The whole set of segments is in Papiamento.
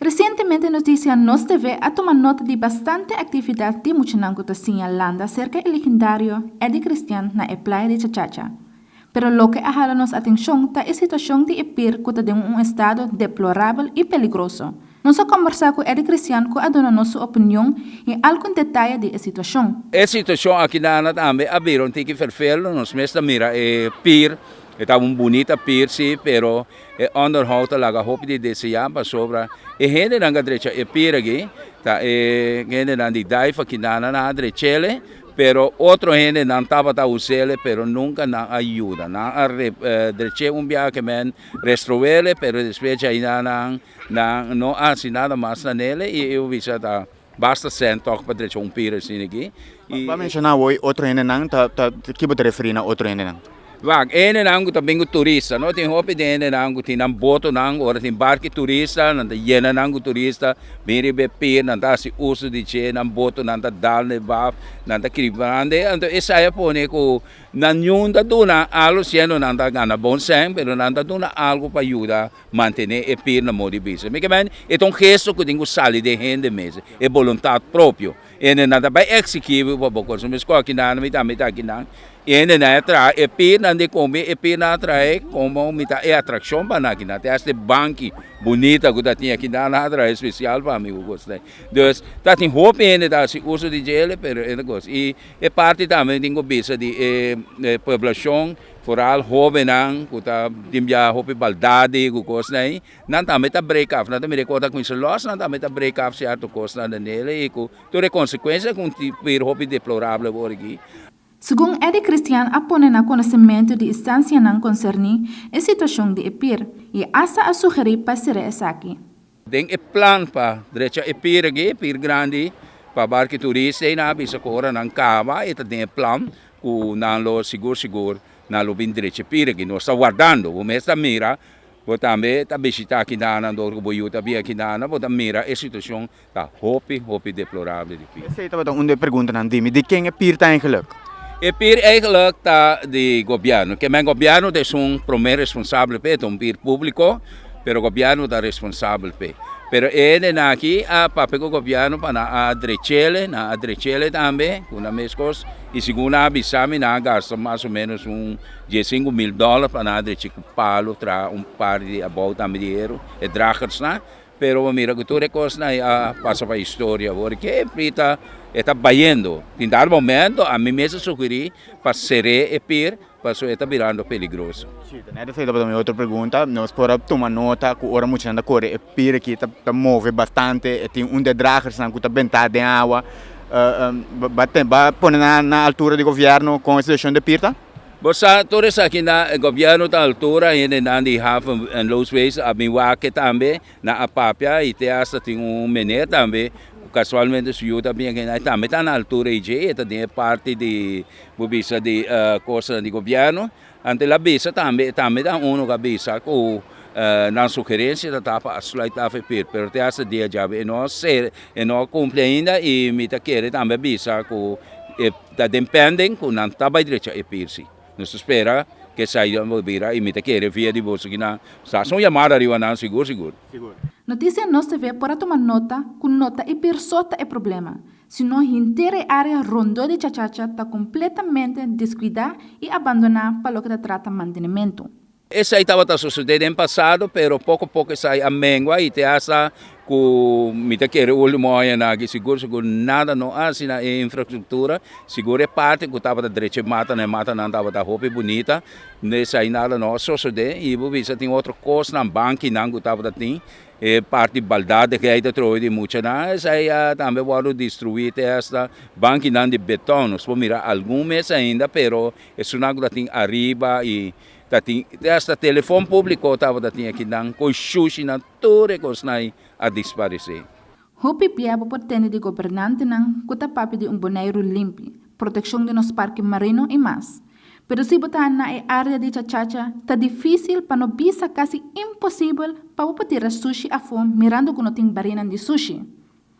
Resientemente Noticia Nos TV a tuma nota di bastante actividad di muchanan cu ta siña landa cerca e legendario Eddy Christian na e playa di Chachacha. Pero loke a hala nos atencion ta e situacion di e pir cu ta den un estado deplorabel y peligroso. Nos a combersa cu Eddy Christian cu a duna nos su opinion y algun detaye di e situacion. E situacion aki nana tambe a bira un tiki vervelend, nos mes ta mira e pir, e ta un bunita pir si, pero E onderhoud ta laga hopi di deseá pasobra e hendenan ku a drecha e pirigi ta e hendenan di Daifa, Quinana nan a drech'e, pero otro hendenan tabata us'e pero nunka nan a yuda. Nan a drech'e un biaha men restrue'e pero despues djai nan no a hasi nada mas na n'e i e hubisa ta Basta sèn tòk pa drecha un pira asina aki i. Bo a menshona awor otro hendenan ta ta ki bo ta referí na otro hendenan? Wak, e hendenan ku ta bin ku turista no. Tin hopi den hendenan ku tin nan botonan ora tin barki turista nan ta yena nan ku turista bin riba e pir nan ta hasi uso di dje nan botonan ta dal na e baf nan ta kiri brande anto esei a pone ku nan yun ta duna algu siendo nan ta gana bon sèn pero nan ta duna algu pa yuda Mantené e pir na modi bisa. Mi ke men, e ta un gesto ku tin ku sali den hende mes, e boluntat propio. E hende nan ta bai eksigí bo pa bo kos. Mi skó akinan, mi tambe ta akinan. E hende nan a traha e pirnan di kombi, e pirnan a trahaé komo mitá e atrakshon pa nan akinan. Te hasta e banki bunita ku ta tin akinan nan a traha espesial pa mi ku kos l'ei. Dus, ta tin hopi hende ta hasi uso di djele, pero e parti tambe tin ku bisa di e poblashon. Foral hobennan ku ta tin bia hopi baldadi ku kosnan ei nan tambe ta break af nan ta mira e kota kuminsa lòs nan tambe ta break af sierto kosnan den el ei ku tur e konsekuensia ku pir hopi deplorable por aki. Segun Eddy Christian a pone na konosementu di istansianan konserní e situashon di e pir i asta a sugerí pa será esaki. Den e plan pa drecha e pir aki, e pir grandi pa barki turista ei, nan a bisa ku ora nan kaba e ta den e plan ku nan lo sigur sigur nan lo bin drecha e pir aki. Nos ta wardando, bo mes ta mira, bo tambe ta bishitá aki nan, dor ku bo yu ta bia aki nan, bo ta mira e situashon ta hopi hopi deplorable di pir. Esei tabata un di e preguntanan, dime, di ken e pir ta eigelik? E pir eigelik ta di gobièrnu, ke men gobièrnu ta esun promé responsable pa e, ta un pir públiko. pero gobièrnu ta responsabel p'e. Pero e henden aki a papia ku gobièrnu pa nan a drech'el'e, nan a drech'el'e tambe ku nan mes kos, i segun nan a bisa mi nan a gasta mas o ménos un dies sinku mil dòler pa nan a drech'e ku palu, traha un par di abou tambe di heru, e dragersnan, pero bo mira ku tur e kosnan a pasa pa historia awor. Ke p'e ta e ta bayendo? Tin dal momento a mi mes a sugerí pa ser'é e pir paso e ta birando peligroso. Sí, ta nèt esei tabata mi otro pregunta. Nos por a tuma nota ku ora muchanan ta kore e pir aki ta move bastante, e tin un de dragersnan ku ta bentá den awa. Ba pone nan na altura di gobièrnu kon e situashon di pir ta? Bo sa, tur esaki nan e gobièrnu ta altura, hendenan di haven en Loos Wees a bin wak tambe, nan a papia i te asta tin un meneer tambe ku kasualmente su yu ta biengen, e tambe ta na altura ei dje, e ta den e parti di Bo bisa di kosanan di gobièrnu, anto la bisa tambe, tambe ta unu ku a bisa ku nan sugerensia ta tapa a sluit af e pir, pero te hasta dia djabi e no ser, e no a kumpli ainda i mi ta kere tambe bisa ku e ta den pending ku nan ta bai drecha e pir si. Nos ta spera ku e sai a bira i mi ta kere via di boso ku nan sa hasi un yamada riba nan sigur sigur. Notisia nos TV por a tuma nota ku no ta e pir so ta e problema, sino henter e área rondó di Chachacha ta kompletamente deskuidá i abandoná pa loke ta trata mantenementu. Esei tabata susedé den pasado, pero poko poko esei a mengua i te asta ku mi ta kere último aña nan aki sigur sigur nada no hasi na e infrastruktura, sigur e parti ku tabata drecha e matanan, e matanan tabata hopi bunita, esei nada no a susedé i bo bisa tin otro kosnan, bankinan ku tabata tin. E parti baldat de gei ta trowe di muchanan esei a tambe wòrdu destruí te hasta bankinan di betòn nos por mira algun mes ainda pero e suná ku ta tin ariba i ta tin te hasta telefòn públiko tabata tin aki nan kon shushinan tur e kosnan ei a disparesé. Hopi bia bo por tende di gobernantenan ku ta papia di un Boneiru limpi, protekshon di nos parke marino i mas. Pero si bo ta na e área di Chachacha, ta difísil, pa no bisa kasi imposibel, pa bo por tira sushi afó mirando ku no tin barinan di sushi.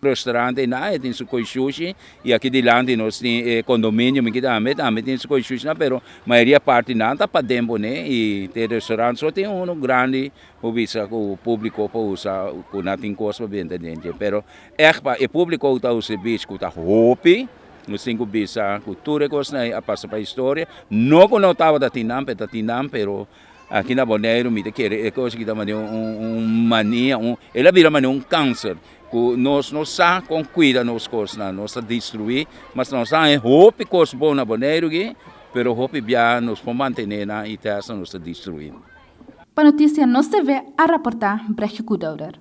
Restaurante i nada e tin su koi sushi i aki dilanti nos tin e kondominio mi kita tambe, tambe tin su koi sushinan pero mayoria parti nan ta paden bo ne i te restaurante so tin unu grandi Bo bisa ku publico por usa ku nan tin kos pa benta den dje, pero ech pa e publico ta un servicio ku ta hopi, nos tin ku bisa ku tur e kosnan ei a pasa pa historia, no ku no tabata tin nan pero ta tin nan, pero aki na Boneiru mi ta kere e kos aki ta mane un mania, el a bira mane un kanser ku nos no sa kon kuida nos kosnan, nos ta destrui, mas nos a haña hopi kos bon na Boneiru aki, pero hopi biaha nos por mantene nan i tèsta nos ta destruinan. Pa notisia nos TV a raportá Brechtgekoedouder.